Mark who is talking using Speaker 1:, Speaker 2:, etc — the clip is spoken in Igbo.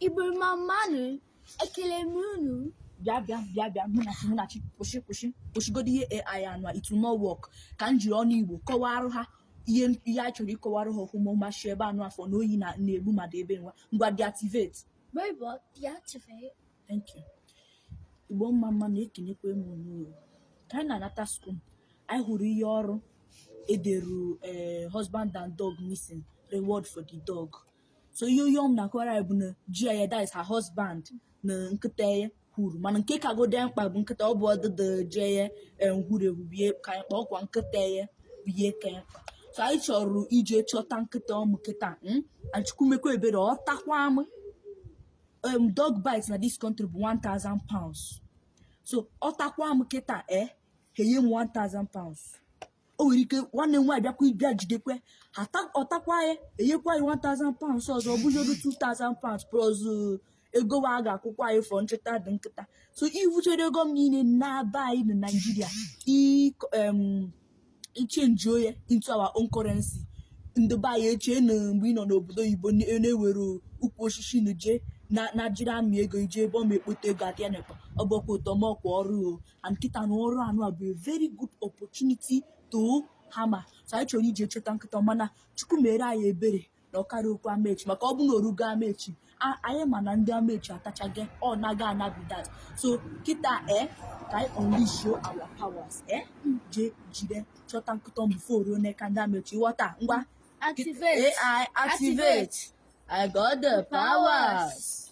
Speaker 1: Igbo mma mma nụ ekele m unu bịa bịa
Speaker 2: bịa bịa Munachi Munachi kwụsị kwụsị kwụsịgodo ihe AI anụ a it will not work ka m jiri ọnụ Igbo kọwara ha ihe ihe a chọrọ ịkọwara ha ọhụma ọ ma sị ebe anụ afọ na oyi na- na-egbu mmadụ ebe nwa ngwa deactivate
Speaker 1: robot deactivate Thank
Speaker 2: you. Igbo mma mma nụ ekenekwa m unu o. ka anyị na-anata school anyị hụrụ ihe ọrụ e deru eh, husband and dog missing reward for the dog so ihe onye ọm na-akọwara ya bụ na ji ya that is her husband na nkịta ya huru mana nke kagode mkpa bụ nkịta ọ bụọdụ ji ya huru ehu bụ ihe ka anyị mkpa ọ kwa nkịta ya bụ ihe ka ya mkpa so anyị chọrọ ije chọta nkịta ọmụ kịta hmm? and Chukwu mekwa ebere ọ takwa m um, dog bite na this country bụ 1000 pounds so ọ takwa m kịta e eh? ha enye m 1000 pounds o nwere ike nwanne m nwaanyị bịakwa ịbịa jidekwe ata- ọ takwa ya e nyekwa ya 1000 pounds ọzọ ọ bụzi odu 2000 pounds plus uh, ego wa a ga-akwụkwa anyị for nchọta the nkịta so i vuchere ego ọm niile na-aba anyị na naijiria ịkọ- em, ịchange ya into our own currency ndị be anyị echee na mgbe ị nọ n'obodo oyibo na- na e nwere ukwu osisi na je na na jiri amị ego i je ebe ọm ekpote ego adịa n'ekpa ọ bụkwa otu ọm ọ kwa ọrụ o and kịta na ọrụ anụ a bụ a very good opportunity to hammer so anyị chọrọ ije chọta nkịta mana Chukwu mere anyị ebere na ọ karukwu Amechi maka ọ bụ na o rugo Amechi a- anyị ma na ndị Amechi atachago ya ọ naa na be that so kịta e ka anyị unleash our powers e je jide chọta nkịta before o ruo n'aka ndị Amechi ghọta ngwa Activate.
Speaker 1: AI
Speaker 2: activate I got the powers